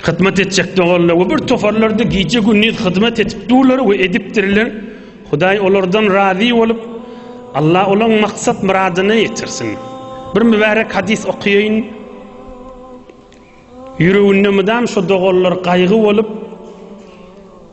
hyzmat etjek doganlar we bir toparlarda gije gündiz hyzmat edip durlar we edipdirler. Hudaý olardan razy bolup, Allah olaň maksat myradyna ýetirsin. Bir mübärek hadis okaýyn. Ýüreginde mydam şu doganlar gaýgy bolup,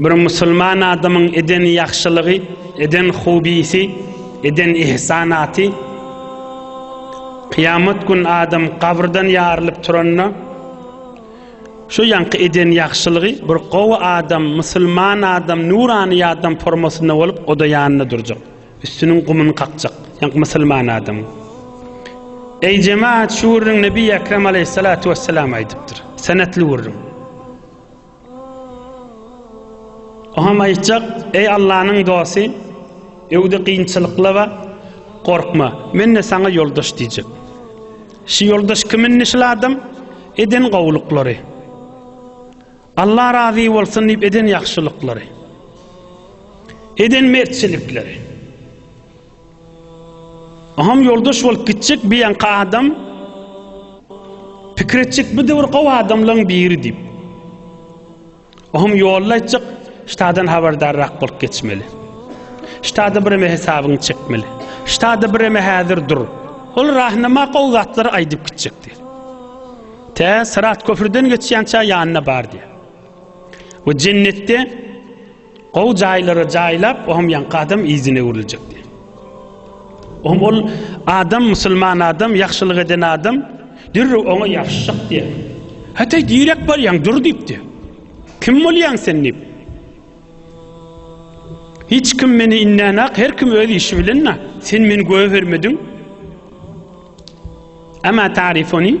Bir musulman adamyň eden ýagşylygy, eden hobisi, eden ihsanaty Kyýamat gün adam gabrdan ýarylyp turanda şu ýaňky eden ýagşylygy bir gowy adam, musulman adam, nurany adam formasynda bolup oda ýanynda durjak. Üstüniň gumuny kakjak. Ýaňky musulman adam. Eý jemaat şu gürrüň Nebi Ekrem aleyhissalatu vesselam aýdypdyr. Senetli gürrüň. Oňam aýtjak, Eý Allanyň dosty, öwde kynçylyklaba, gorkma, men-de saňa ýoldaş diýjek. Şu ýoldaş kim indi şul adam? Eden gowulyklary. Alla razy bolsun diýip eden ýagşylyklary. Eden mertçilikleri. Oňam ýoldaş bolup gitjek bir ýaňky adam pikir etjek bu döwür gowy adamlaryň biri diýip. Oňam ýolda aýtjak ştadan habardarrak bolup geçmeli. Ştada bireme hesabyňy çekmeli. Ştada bireme häzir dur. Ol rahnama gowy zatlary aýdyp gitjekdi. Tä Syrat köprüden geçýänçä ýanyna bar diýär. We jennetde Gowy jaýlara jaýlap, ohm ýaňky adam yzyna öwrüljekdi. Ohm ol adam musulman adam, ýagşylyk eden adam dürrüw oňa ýapyşjak diýär. Hataý direk barýaň, dur diýipdi. Kim bolýaň sen diýip. Hiç kim meni innenak, her kim öz işi bilen na. Sen meni göwe bermediň. Ama tarifoni.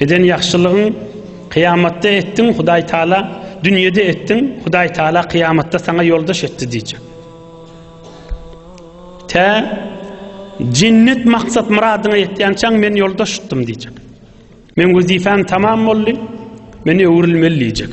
Eden ýagşylygyň kyýamatda etdiň Hudaý Taala dünýede etdiň Hudaý Taala kyýamatda saňa ýoldaş etdi diýjek. Tä jennet maksat myradyňa ýetýänçäň men ýoldaş tutdum diýjek. Men wezipem tamam boldy. Men öwrülmeli diýjek.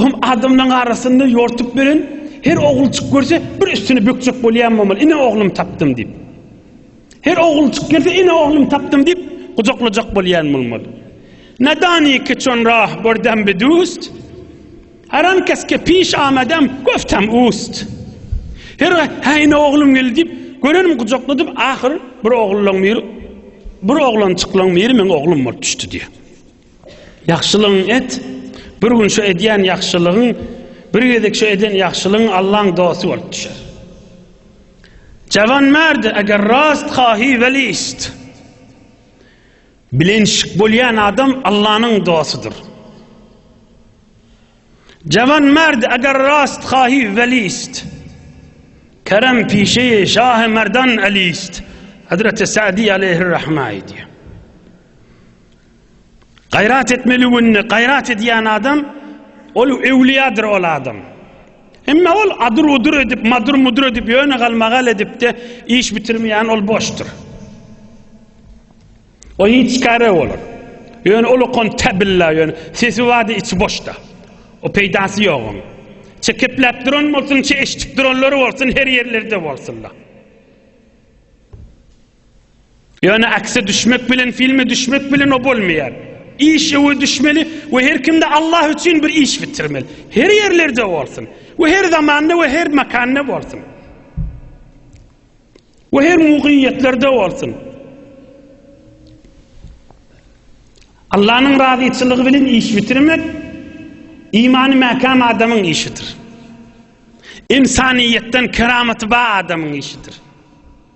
Ohm adamlaryň arasynda ýortup beren her oglujyk görse bir üstüni bökjek bolýan bolmaly, ine oglum tapdym diýip. Her oglujyk gelse ine oglum tapdym diýip gujaklajak bolýan bolmaly. Nadani ki çon rah bordem bi dust, haram kes ke piş amadem goftem ust. Her ha ine oglum geldi diýip görenim gujakladyp ahyr bir ogluň bir bir oglançyklyň biri meň oglum bolup düşdi diýýär. Ýagşylygyňy et, bir gün şu edýän ýagşylygyň, bir gezek şu eden ýagşylygyň Allaň dosty bolup düşer. Jawanmärd, eger rast haýy welist. Bilenşik bolýan adam Allanyň dostudyr. Jawanmärd, eger rast haýy welist. Kerem pişeýi şahy merdan elist. Hazreti Sa'di aleyhir rahma aýdýar. Gaýrat etmeli günde gaýrat edýän adam ol öwliýadyr ol adam. Emma ol adyr udur edip madyr mudur edip ýöne galmagal edipde iş bitirmeýän ol boşdur. O hiç kare bolar. Ýöne ol okan tabilla ýöne sesi wady içi boşda. O peýdasy ýok oň. Çekepläp duran bolsun, çe eşitip duranlary bolsun her ýerlerde bolsunlar. Ýöne akse düşmek bilen filme düşmek bilen o bolmaýar. Iş öwe düşmeli we her kimde Allah üçin bir iş bitirmeli. Her ýerlerde bolsun. We her zamanda we her makanda bolsun. We her mugyýetlerde bolsun. Allah'ın razyçylygy bilen iş bitirmek imanı mäkäm adamyň işidir. İnsaniýetden keramatba adamyň işidir.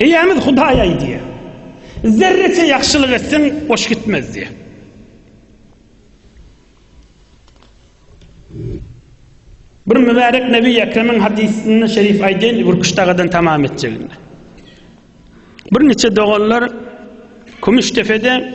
Eýämiz Hudaý aýdýar, Zerreçe ýagşylyk etseň, boş gitmez diýýär. Bir mübärek Nebi Ekremiň hadysynda şerif aýdýan Gürküş dagadan tamam etjeginde. Bir niçe doganlar Kümüşdepede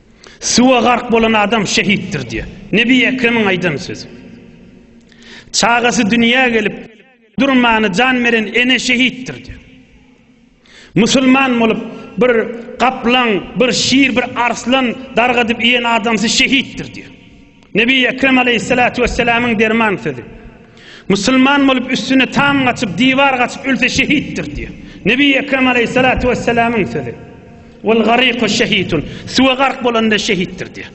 Suwa gark bolan adam şehitdir diýýär. Nebi Ekremiň aýdan sözi. Çagasy dünýä gelip durmany jan beren ene şehitdir diýýär. Musulman bolup bir gaplaň, bir şir, bir arslan dargadyp iýen adamsy şehitdir diýýär. Nebi Ekrem aleýhissalatu wessalamyň derman sözi. Musulman bolup üstüne tam gaçyp, diwar gaçyp ölse şehitdir diýýär. Nebi Ekrem aleýhissalatu wessalamyň sözi. Wal gariku şehitun. Suwa gark bolanda şehitdir diýýär.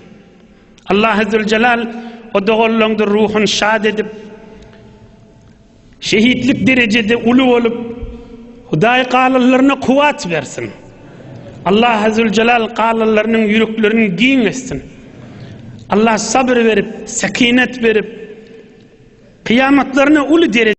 Allah Azzezelal o doganlaryňdyr ruhuny şad edip, Şehitlik derejede uly bolup Hudaý galyllaryna kuwat bersin. Allah Azzuljalal galyllarynyň ýüreklerini giň etsin. Allah sabr berip, sekinet berip, kyýamatlaryna uly dereje.